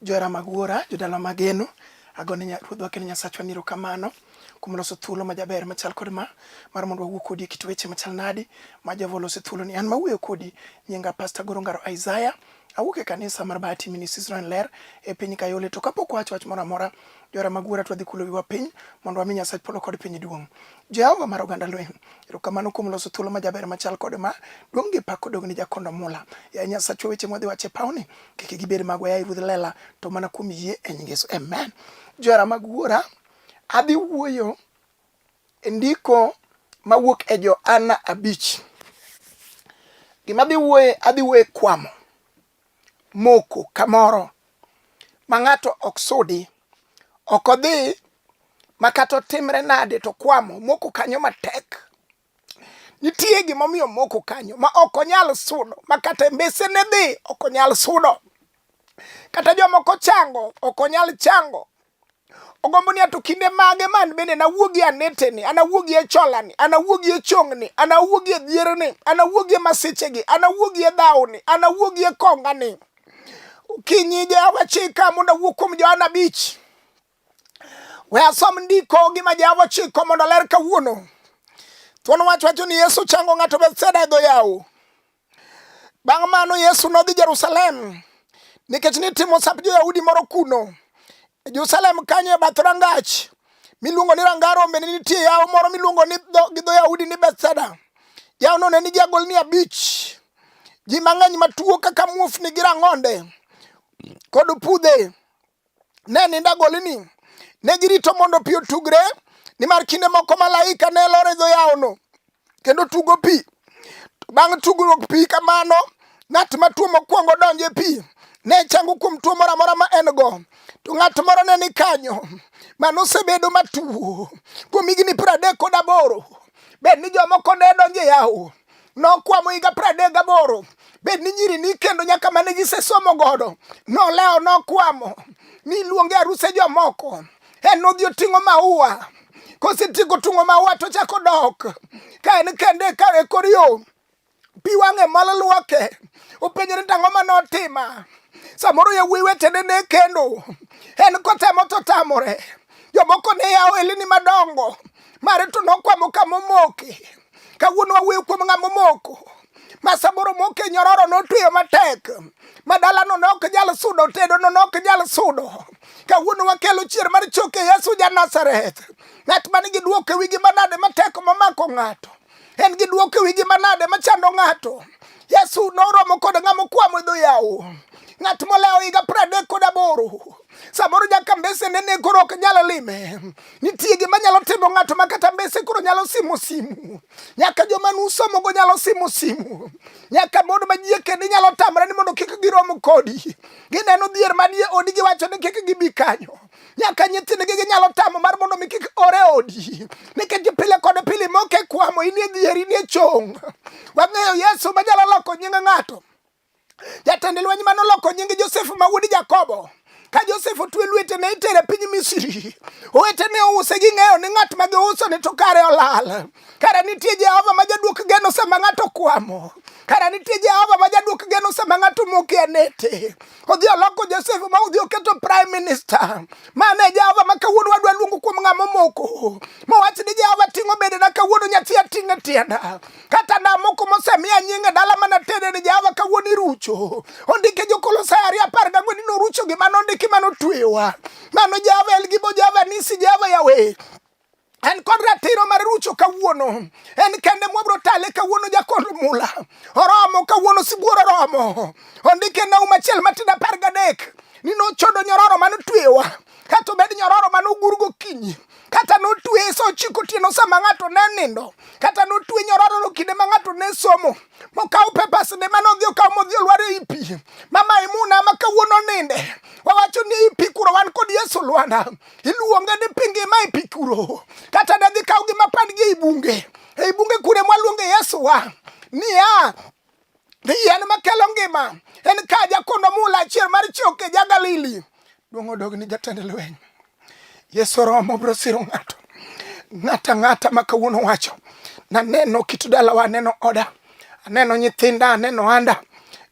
johera mag wuora jodala mageno agone ruodhwa kendo nyasachwa niro kamano kuom loso thuolo ma jaber machal kod ma mar mondo wawuo kodi e kit weche machal nadi ma jehova oloso thuolo ni an mawuoyo kodi nyinga pasta goro ngaro isaya awuok e kanisa mar Bahati Ministries Israel Ler e piny Kayole to kapok wacho wach moro amora jora mag wuora to wadhi kulo wiwa piny mondo wami Nyasach polo kod piny duong'. Jehova mar oganda lweny, erokamano kuom loso thuolo ma jaber machal kod ma duong' gi pak odog ne jakondo mula. Ya Nyasachwa weche mwadhi wache pawni kik gibed magwa ya Ruodh lela to mana kuom yie e nying Yesu. Amen. Jora mag wuora adhi wuoyo ndiko mawuok e Johana abich. Gima adhi wuoye, adhi wuoye kwamo moko kamoro ma ng'ato ok sudi, ok odhi ma kata otimre nade to kwamo moko kanyo matek. Nitie gimomiyo moko kanyo ma ok onyal sudo, ma kata mbesene dhi ok onyal sudo. Kata jomoko chango ok onyal chango. Ogombo ni ato kinde mage man bende nawuogi aneteni, anawuogi e cholani, anawuogi e chongni, anawuogi e dhierni, anawuogi e masichegi, anawuogi e dhawni, anawuogi e kongani. Kinyi Jehova chika mondo awuo kuom Johana abich. We asom ndiko gi ma Jehova chiko mondo ler kawuono. Thuon wach wacho ni Yesu chango ng'ato Bethsaida e dho yawo. Bang' mano Yesu nodhi Jerusalem nikech nitimo sap jo-Yahudi moro kuno. E Jerusalem kanyo e bath rangach miluongo ni ranga rombe ne nitie yawo moro miluongo ni gi dho Yahudi ni Bethsaida. Yawono ne nigi agolni abich. Ji mang'eny matuo kaka muofni gi rang'onde kod pudhe ne nindo agolini. Ne girito mondo pi otugre, nimar kinde moko malaika ne lor e dho yawono kendo tugo pi. Bang' tugruok pi kamano, ng'at ma tuo mokwongo donjo e pi ne chango kuom tuo moro amora ma en go. To ng'at moro ne ni kanyo mano osebedo matuo kuom higni piero adek kod aboro. Bed ni jomoko ne donjo e yawo nokwamo higa pradek gaboro bed ni nyiri ni kendo nyaka mane gisesomo godo nolewo nokwamo ni luonge aruse jomoko en nodhi oting'o maua kosetieko tung'o maua to chako dok ka en kende ka e kor yo pi wang'e mol lwoke openjore ni tang'o ma notima samoro yawuoyi wetene ne kendo en kotemo to tamore jomoko ne yawo elini madongo mare to nokwamo kama omoke kawuono wawuoyo kuom ng'ama omoko ma samoro moke nyororo notweyo matek ma dalano ne ok nyal sudo tedono ne ok nyal sudo kawuono wakelo chier mar choke yesu ja nazareth ng'at man gi dwoko e wigi manade matek momako ng'ato en gi dwoko e wigi manade machando ng'ato yesu noromo kod ng'ama okwamo e dho yawo ng'at molewo higa pradek kod aboro Samoro nyaka mbese nene koro ok nyal lime. Nitie gima nyalo timo ng'ato ma kata mbese koro nyalo simo simu. Nyaka joma nusomogo nyalo simo simu. Nyaka mon ma jie kendo nyalo tamre ni mondo kik girom kodi. Gineno dhier manie odi giwacho ni kik gibi kanyo. Nyaka nyithindgi ginyalo tamo mar mondo mi kik ore odi. Nikech pile kod pile moke kwamo inie dhier inie chong. Wang'eyo Yesu manyalo loko nying ng'ato. Jatend lweny ma noloko nying Josef ma wuod Jakobo ka Josef otwe lwete ne itere piny Misri. Owete ne ouse gi ng'eyo ni ng'at ma giuso ne to kare olal. Kare nitie Jehova ma jaduok geno sama ng'ato kwamo. Kare nitie Jehova ma jaduok geno sama ng'ato moke anete. Odhi oloko Josef ma odhi oketo prime minister. Mane Jehova ma kawuono wadwa luongo kuom ng'ama omoko. Mowach ni Jehova ting'o bedena kawuono nyathi ating'e tienda. kata namuku mosemiya nyinge dala mana tede ni java kawuono irucho ondike jokolosai ariyo apar gang'wen ni norucho gima nondiki mano twewa mano java elgibo java nisi java yawe en kod ratiro mar rucho kawuono en kende mwabro tale kawuono jakond mula oromo kawuono sibuor oromo ondike nau machiel matin apar gadek ni nochodo nyororo mano twewa kato bed nyororo mano ogur gokinyi kata notwe sa ochiko otieno sama ng'ato ne nindo kata notwe nyorororo kinde ma ng'ato ne somo mokaw pepasne mane odhi okaw modhi olwar ei pi mama imuna ma kawuono ninde wawacho ni ei pi kuro wan kod yesu lwana iluonge ni pi ngima e pi kuro kata ne dhi kaw gi mapandgi ei bunge ei bunge kure mwaluonge yesu wa niya Ni yien makelo ngima en ka jakondo mula achiel mar choke ja Galili duong' odog ni jatend lweny. Yesu romo bro siro ng'ato ng'ata ng'ata ma kawuono wacho naneno kit dalawa aneno oda aneno nyithinda aneno anda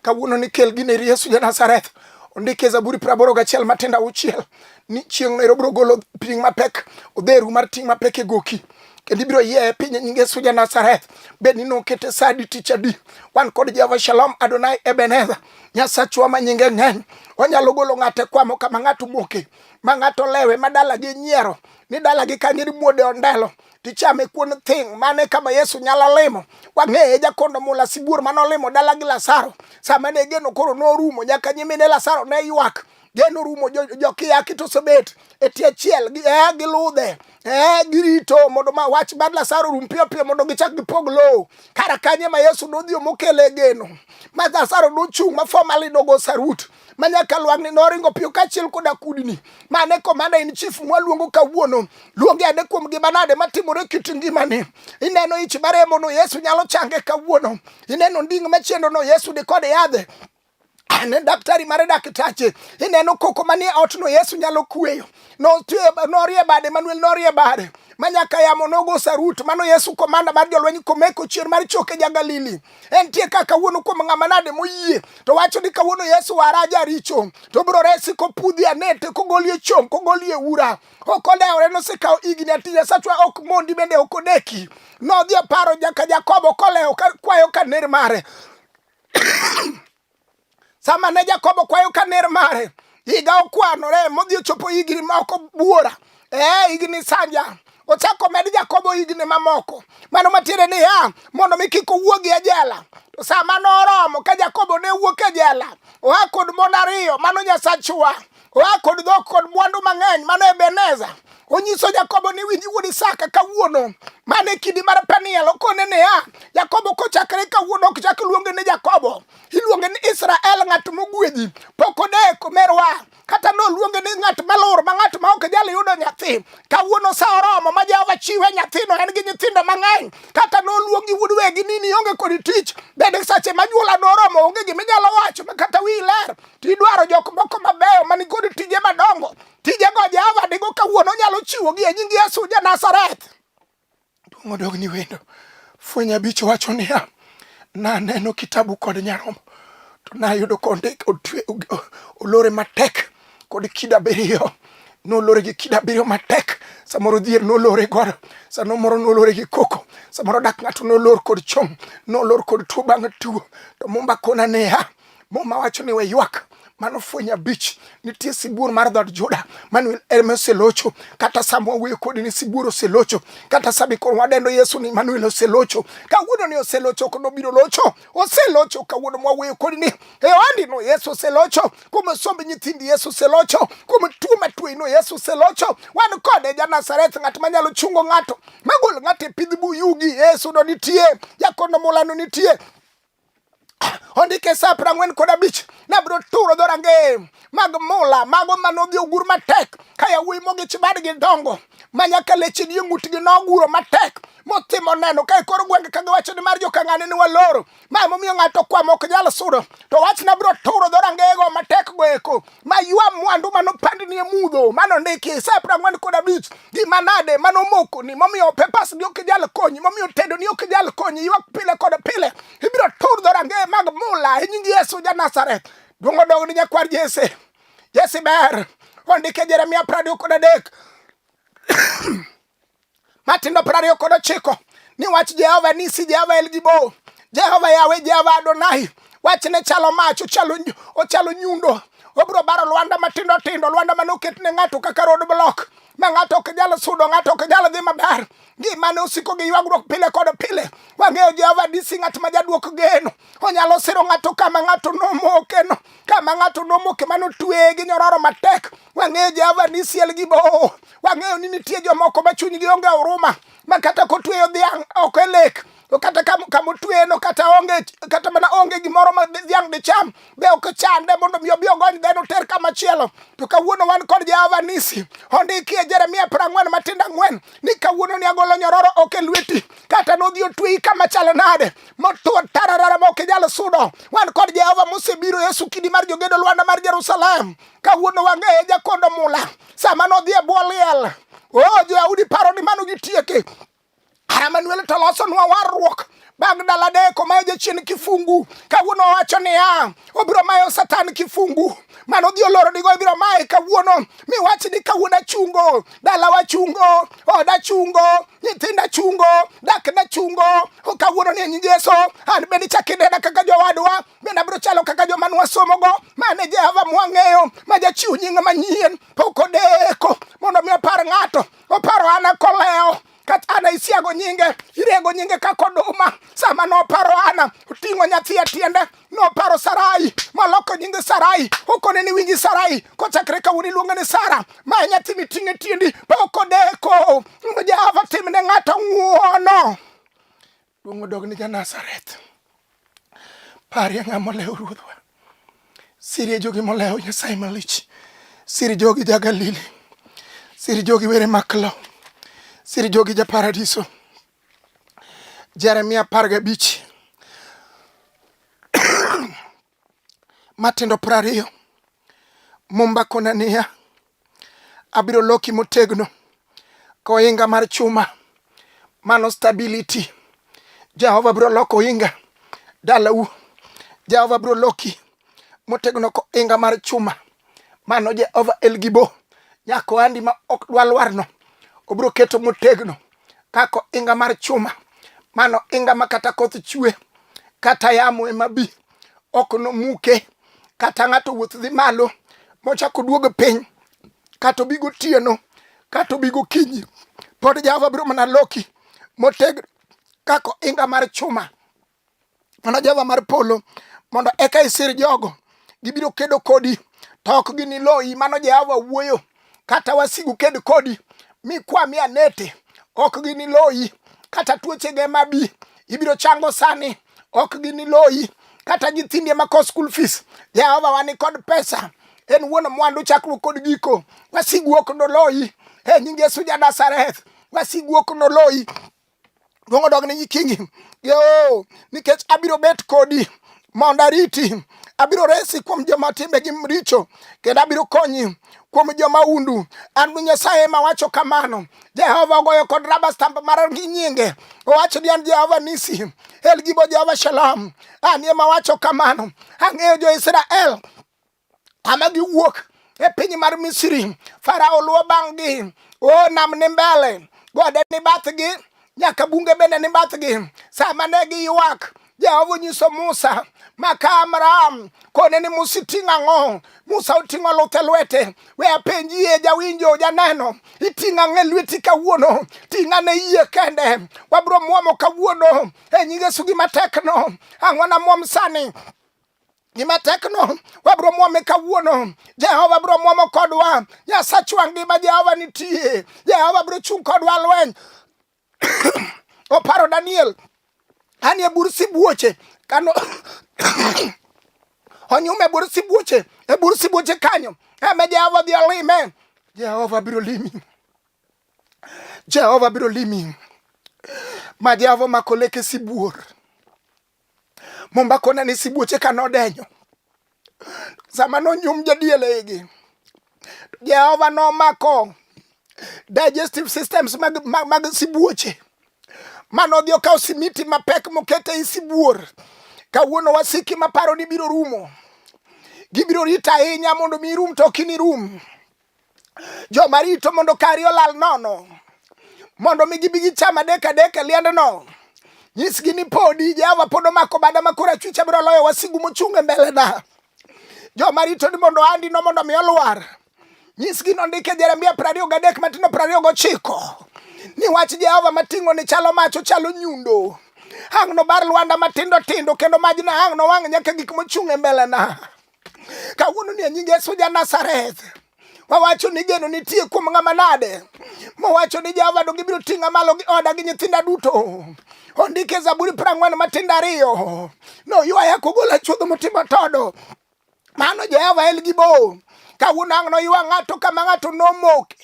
kawuono ni kel gini ir Yesu ja Nazareth ondike Zaburi praboro gachiel matindo auchiel ni chieng' no erobro golo ting' mapek odheru mar ting' mapek e goki kendo ibiro yeye piny e nyinge suja Nazareth. Bed ni nokete sa adi tich adi, wan kod Jehova Shalom Adonai Ebenezer, Nyasachwa ma nyinge ng'eny. Onyalo golo ng'ate kwamo kama ng'ato moke, ma ng'ato lewe, ma dalagi nyiero, ni dalagi kanyo ni muode ondelo tichame kuon thing' mane kama Yesu nyalo limo. Wang'eye jakondo mula sibuor mane olimo dalagi Lazaro. Sama ne geno koro norumo, nyaka nyimine Lazaro ne ywak. geno rumo jokiyaki to osebet e tie chiel eh, giludhe eh, girito mondo ma wach mar Lazaro rum piyo piyo mondo gichak gipog lowo kara kanye ma Yesu nodhi omokele geno ma Lazaro nochung' ma formally nogo sarut ma nyaka lwang'ni noringo piyo kaachiel koda kudni mane komanda in chief mwaluongo kawuono luonge ane kuom gima nade matimore kit ngimani ineno ich maremono Yesu nyalo change kawuono ineno nding' machiendono Yesu dikode yadhe ne daktari mare daktache ineno koko manie otno yesu nyalo kueyo norie bade manuel norie bade manyaka yamo nogo sarut mano yesu komanda mar jolweny komeko chier mar choke ja galili entie ka kawuono kuom ng'ama nade moyie to wacho ni kawuono yesu wara jaricho to biro resi kopudhi anete kogolie chom kogolie ura ok odewore nosekawo igni atinya sachwa ok mondi bende ok odeki nodhi oparo jaka jakobo kolewo kwayo ka ner mare sama ne jakobo kwayo ka ner mare higa okwanore modhi ochopo higni ma ok obuora ee higni sanja ochako med jakobo higni mamoko mano matiende niya mondo mi kik owuog e jela to sama noromo ka jakobo ne wuok e jela oa kod mon ariyo mano nyasachwa oa kod dhok kod mwandu mang'eny mano Ebeneza onyiso Jakobo ni winji wuod Isaka kawuono mane kidi mar Peniel okone niya Jakobo kochakre kawuono ok chak luonge ni Jakobo iluonge ni Israel ng'at mogwedhi pok odeko merwa kata noluonge ni ng'at malor ma ng'at ma ok jal yudo nyathi kawuono sa oromo ma Jehova chiwe nyathino en gi nyithindo mang'eny kata noluongi wuod wegi ni nionge kod tich bende sache ma nyuola noromo onge giminyalo wacho ma kata wi ler Tidwaro jok moko mabeyo man kod tije madongo. Tijego Jehova digo kawuono onyalo chiwogi e nying Yesu ja Nazareth. Duong' odog ni wendo. Fweny abich wacho niya, naneno kitabu kod nyarombo to nayudo kondik otwe olore matek kod kido abiriyo nolore gi kido abiriyo matek samoro dhier nolore godo sano moro nolore gi koko samoro dak ng'ato nolor kod chong nolor kod tuo bang' tuo to mumba kona niya Muma wacho ni we ywak mano fwenyo abich nitie sibuor mar dhod Juda Manuel ema oselocho kata sama wawuoyo kodi ni sibuor oselocho kata sami koro wadendo Yesu ni Manuel oselocho kawuono ni oselocho ok nobiro locho oselocho kawuono mwawuoyo kodi ni e no Yesu oselocho kuom somb nyithindi Yesu oselocho kuom tuo matweyi no Yesu oselocho wan kode ja Nazareth ng'at manyalo chungo ng'ato magol ng'ato e pidh buyugi Yesu no nitie jakono mulano nitie ondike sa piero ang'wen kod abich nabiro turo dhorangeye mag mula mago ma nodhi ogur matek ka yawuoyi mogich badgi dongo ma nyaka leche ni ng'utgi noguro matek motimo neno ka e kor gwenge ka giwacho ni mar jokang'ane ni waloro ma emomiyo ng'ato kwamo ok nyal sudo to wachna biro turo dhorangeyego matek go eko maywa mwandu mano pandni e mudho mano ndiki e saa prang'wen kod abich gi manade mano moko ni momiyo pepas ni ok jal konyi momiyo tedo ni ok jal konyi ywak pile kod pile ibiro tur dhorange mag mula e nying yesu ja nazareth duong' odog ni nyakwar jese jesi ber ondike jeremia prado kod adek matindo piero ariyo kod ochiko ni wach jehova nisi jehova el gibo jehova yawe jehova adonai wachne chalo mach ochalo ochalo nyundo obro baro lwanda matindo tindo lwanda mane oket ne ng'ato kaka road block ma ng'ato ok nyal sudo ng'ato ok nyal dhi maber gimane osiko gi ywagruok pile kod pile wang'eyo jehova disi ng'at ma jaduok geno onyalo siro ng'ato kama ng'ato nomokeno kama ng'ato nomoke mane otweye gi nyororo matek Wang'eyo Jehova ni siel gi bowo. Wang'eyo ni nitie jomoko ma chunygi onge huruma ma kata kotweyo dhiang' ok e lek to kata kama otweyeno kata onge kata mana onge gimoro ma dhiang' dicham be ok chande mondo mi obi ogony dheno oter kama chielo to kawuono wan kod Jehova nisi ondiki e Jeremia prang'wen matindo ang'wen ni kawuono ni agolo nyororo ok e lweti kata nodhi otweyi kama chalo nade motwo tararara ma ok inyal sudo wan kod Jehova mosebiro Yesu kidi mar jogedo Lwanda mar Jerusalem kawuono wang'eye jakondo mula sama nodhi e bwo liel o oh, joyaudi paro ni mano gitieke ara manuel to losonwa warruok bang' dala deko mayo jachien kifungu kawuono owacho niya obiro mayo satan kifungu mano dhi oloro digo ibiro maye kawuono miwach ni kawuono achungo dalawa chungo oda chungo nyithinda chungo dakna chungo kawuono ni e nyingeso an bende chakidena kaka jowadwa bende abiro chalo kaka joma nwasomogo mane Jehova mwang'eyo ma jachiw nying manyien pok odeko mondo mi opar ng'ato oparo ana kolewo kata ana isiago nyinge irego nyinge kaka oduma sama noparo ana oting'o nyathi e tiende noparo sarai maloko nyinge sarai okone ni winji sarai kochakre kawuono iluonge ni sara ma e nyathi miting'o e tiendi pok odeko mondo jehova timne ng'ato ng'uono Duong' odog ne Janazareth. Parie ng'a molewo ruodhwa. Sirie jogi molewo Nyasaye malich. Siri jogi ja Galili. Siri jogi were maklo. Siri jogi ja paradiso. Jeremia apar gabich. matindo piero ariyo Mumba kona niya, abiro loki motegno koinga mar chuma, mano stability. Jehova biro loko oinga dalau. Jehova biro loki motegno koinga mar chuma. mano Jehova Elgibo nyako andi ma ok dwa lwarno obiro keto motegno kako inga mar chuma mano inga ma kata koth chwe kata yamo ema bi ok nomuke kata ng'ato wuoth dhi malo mochako duog piny kata obi gotieno kata obi gokinyi pod Jehova biro mana loki motegno kako inga mar chuma mana Jehova mar polo mondo eka isir jogo gibiro kedo kodi to ok giniloyi mano Jehova wuoyo kata wasigu ked kodi mi kwami anete ok giniloyi kata tuochege mabi ibiro chango sani ok giniloyi kata nyithindi ema ko school fees Jehova wani kod pesa en wuon mwandu chakruok kod giko wasigu ok noloyi e nying Yesu ja Nazareth wasigu ok noloyi luongo dog ne nyikingi yo nikech abiro bet kodi mondo ariti abiro resi kuom joma timbegi richo kendo abiro konyi kuom joma undu an nyasaye ema wacho kamano jehova ogoyo kod raba stamp mar gi nyinge owacho ni an jehova nisi el gibo jehova shalom an ema wacho kamano ang'eyo jo-israel kama giwuok e piny mar misri farao luwo bang'gi o nam ni mbele gode ni bathgi nyaka bunge bende ni bathgi sama ne giywak jehova onyiso musa maka amram kone ni musa iting'o ang'o musa oting'o luthe lwete we apenjie jawinjo janeno iting'o ang'e lweti kawuono ting'a ne yie kende wabro mwomo kawuono e nyingesugi matekno ang'o na mwom sani gima tekno wabiro mwome kawuono jehova biro mwomo kodwa nyasachwa ngima jehova nitie jehova biro chung' kodwa lweny oparo daniel anie bur sibuoche kano onyume bur sibuoche e bur sibuoche kanyo eme jehova dhi olime jehova biro limi jehova biro limi ma jehova omako leke sibuor Mombako ne ni sibuoche ka nodenyo. Sama nonyum jadiel igi, Jehova nomako digestive systems mag, mag, mag sibuoche mano odhi okawo simiti mapek mokete i sibuor kawuono wasiki maparo ni biro rumo gibiro rito ahinya mondo mi rum to ok inirum joma rito mondo kari olal nono mondo mi gibi gicham adek adek e liendno nyisgi ni podi jehova pod omako bada ma koro achwicha biro loyo wasigu mochung' e mbelena joma rito ni mondo andi no mondo mi olwar nyisgi nondike jeremia prariyo gadek matindo prariyo gochiko ni wach jehova mating'o ni chalo mach ochalo nyundo ang' nobar lwanda matindo tindo kendo majna ang' nowang' nyaka gik mochung' e mbelena kawuono ni nying Yesu ja Nazareth wawacho ni geno nitie kuom ng'ama nade mowacho ni Jehova do gibiro ting'a malo gi oda gi nyithinda duto ondike Zaburi prang'wen matindo ariyo noywaya kogola chuodho motimo todo mano Jehova el gi bo kawuono ang' noywa ng'ato kama ng'ato nomoke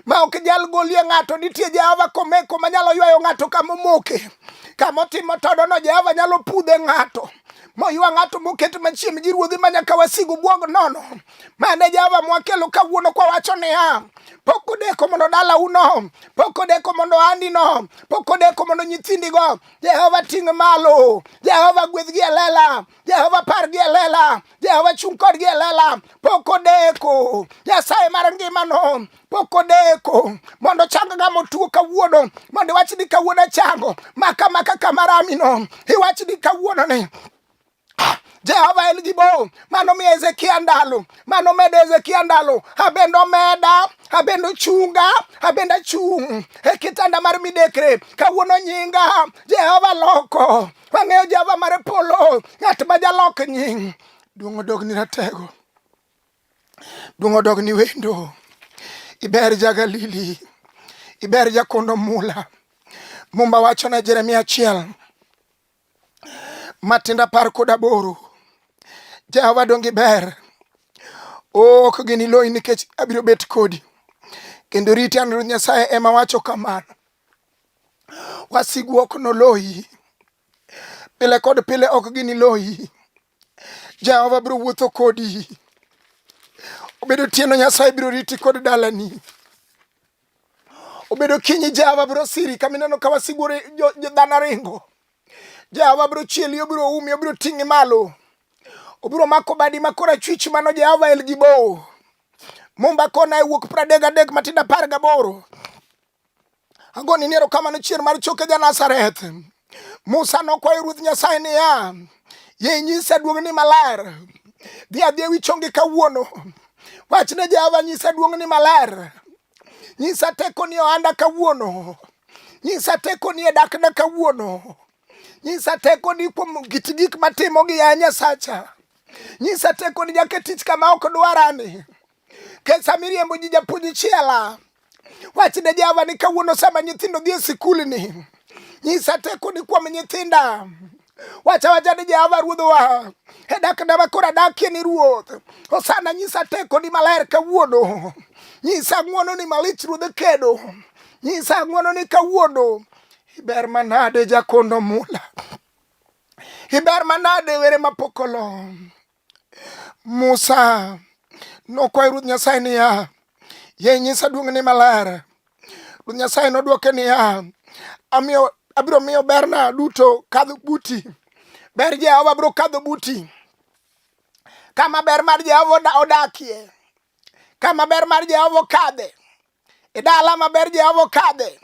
ma ok nyal golie ng'ato. Nitie Jehova komeko ma nyalo ywayo ng'ato kama omoke. Kama otimo todono, Jehova nyalo pudhe ng'ato moywa ng'ato moket machiem gi ruodhi ma nyaka wasigu bwog nono. Mane Jehova mwakelo kawuono kwawacho niya, pok odeko mondo dala uno, pok odeko mondo ohandi no, pok odeko mondo nyithindigo. Jehova ting' malo, Jehova gwedhgi e lela, Jehova pargi e lela, Jehova chung' kodgi e lela, pok odeko. Nyasaye mar ngimano pok odeko mondo chang ga motuo kawuono mondo iwach ni kawuono achango maka maka kamaramino iwach ni kawuono ni Jehova en gi bo mano miyo Hezekia ndalo mano medo Hezekia ndalo abende omeda abende ochunga abende achung' e kitanda mar midekre kawuono nyinga Jehova loko Wang'eyo Jehova mar polo, ng'at ma jalok nying. Duong' odog ni ratego, duong' odog ni wendo. Iber ja Galili, iber ja kondo mula. Mumba wacho na Jeremia achiel matinda par kod aboro. Jehova dongi ber, ok gini loyi nikech abiro bet kodi kendo riti an Ruoth Nyasaye ema wacho kamano. Wasigu ok noloyi, pile kod pile ok giniloyi. Jehova biro wuotho kodi, obedo tieno Nyasaye biro riti kod dalani obedo kinyi Jehova biro siri kama ineno ka wasigu dhano ringo. Jehova biro chieli, obiro umi, obiro ting'i malo, obiro mako badi ma korachwich mano Jehova el gi bowo. Mumba kona e wuok pradek adek matindo apar gaboro Agoni ni erokamano chier mar choke ja Nazareth. Musa nokwayo Ruoth Nyasaye niya, ye inyisa duong'ni maler, dhi adhi ewi chongi kawuono. Wach ne Jehova nyisa duong'ni maler, nyisa tekoni ohanda kawuono, nyisa tekoni e dakna kawuono, nyisa tekoni kuom kit gik matimogi ya Nyasacha, nyisa tekoni jaketich kama ok dwarani Ke samiriembo ji japuonj chiela. Wachne Jehova ni kawuono sama nyithindo dhi e sikul ni. Nyisa teko ni kuom nyithinda. Wacha wacha ni Jehova ruodhowa. E dak na makora dakie ni ruoth. Osana nyisa teko ni maler kawuono. Nyisa ng'uono ni malich ruodhe kedo. Nyisa ng'uono ni kawuono. Iber manade jakondo mula. Iber manade were mapokolo. Musa nokwayo Ruoth Nyasaye niya, ye nyisa duong'ni maler. Ruoth Nyasaye nodwoke niya, amiyo abiro miyo berna duto kadho buti. Ber Jehova biro kadho buti. Kama ber mar Jehova odakie, kama ber mar Jehova okadhe, E dala maber Jehova okadhe,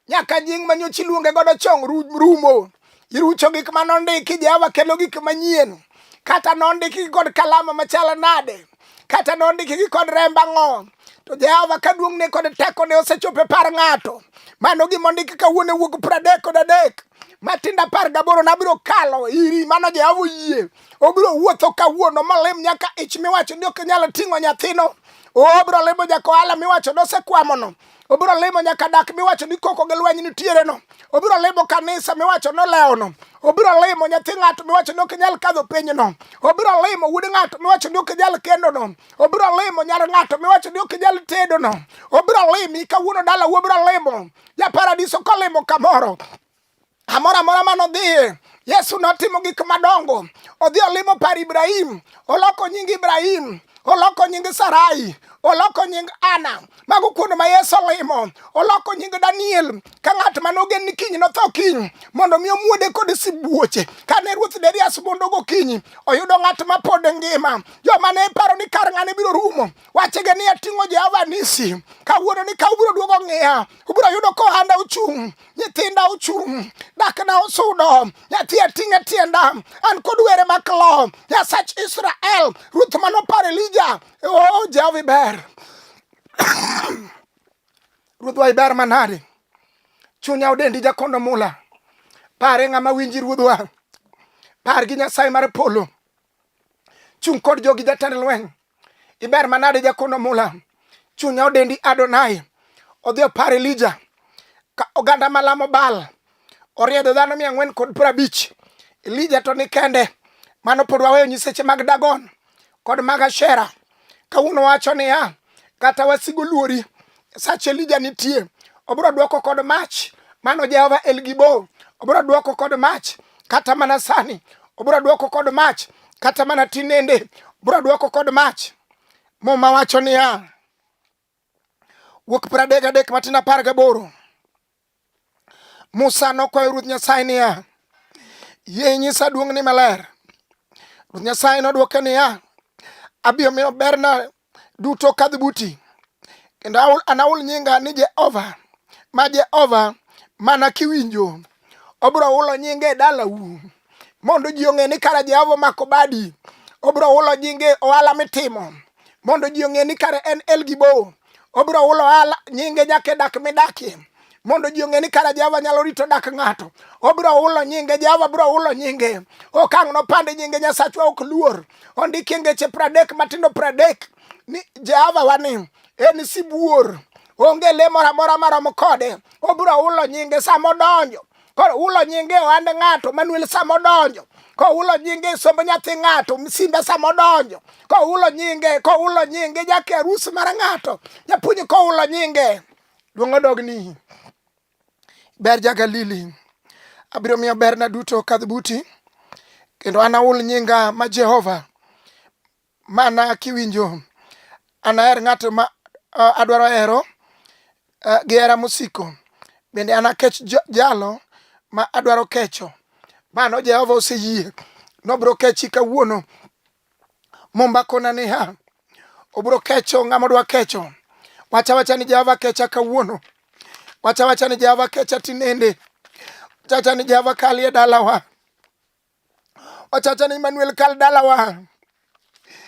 nyaka nying ma nyocha iluonge godo chong rumo. Irucho gik ma nondiki, Jehova kelo gik manyien. Kata nondiki kod kalama machal nade, kata nondiki kod remb ang'o, to Jehova ka duong'ne kod tekone osechopo e par ng'ato. Mano gima ondiki kawuono e wuok pradek kod adek. Matinda apar gaboro nabiro kalo iri mano Jehova oyie. Obiro wuotho kawuono molim nyaka ich miwacho ni ok nyal ting'o nyathino. Obiro limo nyaka ohala miwacho nosekwamono. Obiro limo nyaka dak miwacho ni koko gi lweny nitiereno. Obiro limo kanisa miwacho nolewono. Obiro limo nyathi ng'ato miwacho ni ok nyal kadho pinyno. Obiro limo wuod ng'ato miwacho ni ok nyal kendono. Obiro limo nyar ng'ato miwacho ni ok nyal tedono. Obiro limi kawuono dala obiro limo. ja paradiso kolimo kamoro amora amora mane odhiye yesu notimo gik madongo odhi olimo par ibrahim oloko nying ibrahim oloko nying sarai oloko nying ana mago kuonde ma yesu olimo oloko nying daniel ka ng'at mane ogen ni kiny notho kiny mondo mi omuode kod sibuoche kane ruoth derias mondo gokinyi oyudo ng'at ma pod ngima joma ne paro ni kar ng'ane biro rumo wachege ni ating'o Jehova Nisi kawuono ni ka ubiro duogo ng'iya ubiro yudo ka ohanda ochung' nyithinda ochung' dakna osudo nyathi ating'e tienda an kod were maklo nyasach Israel ruth manopar Elija o oh, Jehova iber ruodhwa iber manade chunya odendi jakondo mula pare ng'ama winji ruodhwa par gi nyasaye mar polo Chung' kod jogi jatend lweny. Iber manade jakono mula. Chunya odendi Adonai. Odhi opar Elija. Ka oganda malamo Baal. Oriedo dhano mia ang'wen kod prabich. Elija to ni kende. Mano pod waweyo nyiseche mag Dagon kod mag Ashera. kawuono wacho niya kata wasigo luori sach elija nitie obiro dwoko kod mach mano jehova elgibo obiro dwoko kod mach kata mana sani obiro dwoko kod mach kata mana tinende obiro dwoko kod mach muma wacho niya Wuok pradek adek matin apar gaboro. Musa nokwayo Ruoth Nyasaye niya, yie inyisa duong'ni maler. Ruoth Nyasaye nodwoke niya, abiro miyo berna duto kadh buti, kendo anahul nyinga ni Jehova ma Jehova mana kiwinjo. Obiro hulo nyinga e dalau mondo ji ong'e ni kara Jehova omako badi. Obiro hulo nyinga e ohala mitimo mondo ji ong'e ni kare en El Gibo. Obiro hulo ala nyinge nyaka e dak midakie mondo ji ong'e ni kara Jehova nyalo rito dak ng'ato. Obiro hulo nyinge, Jehova biro hulo nyinge. Okang' nopande nyinge Nyasachwa ok luor. Ondiki e ngeche pradek matindo pradek ni Jehova wani en sibuor. Onge le moro amora maromo kode. Obiro hulo nyinge sama odonjo koro ulo nyinge e ohand ng'ato manuel sama odonjo koulo nyinge sombo nyathi ng'ato simbe sama odonjo koulo nyinge koulo nyinge jake arus mar ng'ato japuonj koulo nyinge duong' odogni ber ja galili abiro miyo berna duto kadh buti kendo an aul nyinga ma jehova Mana kiwinjo, anaher ng'at ma uh, adwaro hero uh, gi hera mosiko, bende anakech jalo ma adwaro kecho. Mano Jehova oseyie nobro kechi kawuono. Mumba kona niya, obro kecho ng'ama odwa kecho. Wacha wacha ni Jehova kecha kawuono. Wacha wacha ni Jehova kecha tinende. Wacha wacha ni Jehova kalie dalawa. Ochacha ni Emmanuel kal dalawa.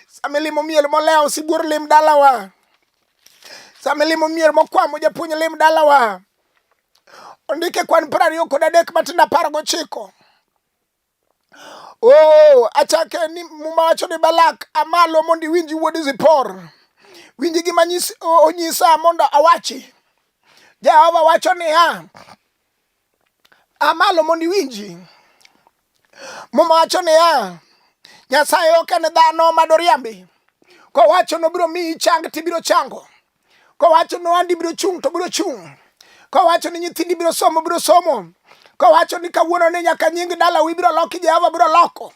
Sama ilimo miel molewo sibuor lim dalawa. Sama ilimo miel mokwamo japuonj lim dalawa. Ondike kwan piero ariyo kod adek matindo apar gochiko. Oh, achake ni muma wacho ni Balak amalo mondo iwinji wuod Zipor. Winji gima nyis- o- onyisa mondo awachi. Jehova wacho niya, Amalo mondo iwinji. Muma wacho niya, Nyasaye ok en dhano ma doriambi. Kowacho nobiro miyi chang to ibiro chango. Kowacho ni ohandi biro chung' to biro chung'. Kowacho ni nyithindi biro somo biro somo. Kowacho ni kawuono ni nyaka nying dalawu ibiro loki Jehova biro loko.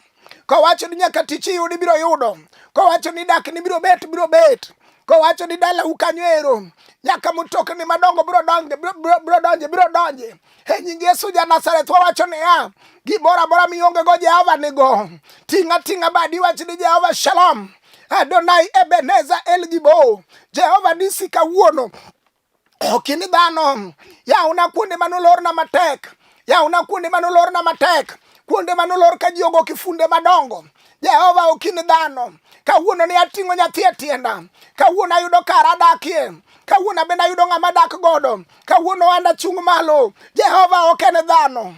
kowacho ni nyaka tich iyud ibiro yudo kowacho ni dak ni biro bet biro bet kowacho ni dala ukanyo ero nyaka mutokni madongo biro donje biro donje biro donje e nying yesu ja nazareth wawacho niya gimoro amora mionge go jehova nigo ting'a ting'a badi wach ni jehova shalom adonai ebeneza el gibo jehova nisi kawuono Okin dhano, yawna kuonde mane olorna matek, yawna kuonde mane olorna matek, kuonde mane olor ka ji ogo kifunde madongo. Jehova okin dhano, kawuono ne ating'o nyathi e tienda, kawuono ayudo kar adakie, kawuono abende ayudo ng'ama dak godo, kawuono anda chung' malo. Jehova ok en dhano,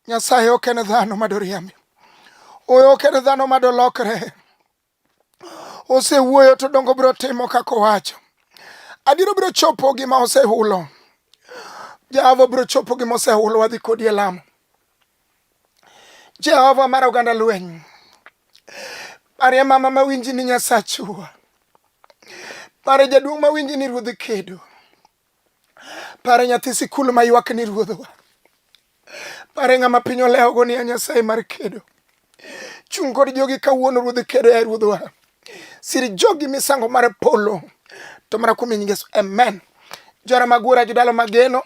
Nyasaye ok en dhano madoriambi, oyo ok en dhano madolokre. osewuoyo to dongo biro timo kaka owacho adiero biro chopo gima osehulo jehova biro chopo gima osehulo wadhi kodi e lamo jehova mar oganda lweny parie mama mawinji ni nyasachu parie jaduong' mawinji ni ruodhi kedo Pare nyathi sikul ma ywak ni ruodhwa. Pare ng'ama piny olewogo ni a Nyasaye mar kedo. Chung' kod jogi kawuono ruodhi kedo ya ruodhwa. Sir jogi misango mar polo. To mana kuom nying Yesu. Amen. Jora magura jodalo mageno.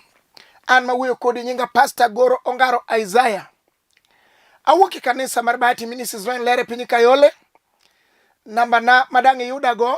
An ma wuoyo kodi nyinga Pastor Goro Ongaro Isaiah. Awuok e kanisa mar Bahati Ministries ma en lere piny Kayole. Namba na madang' iyudago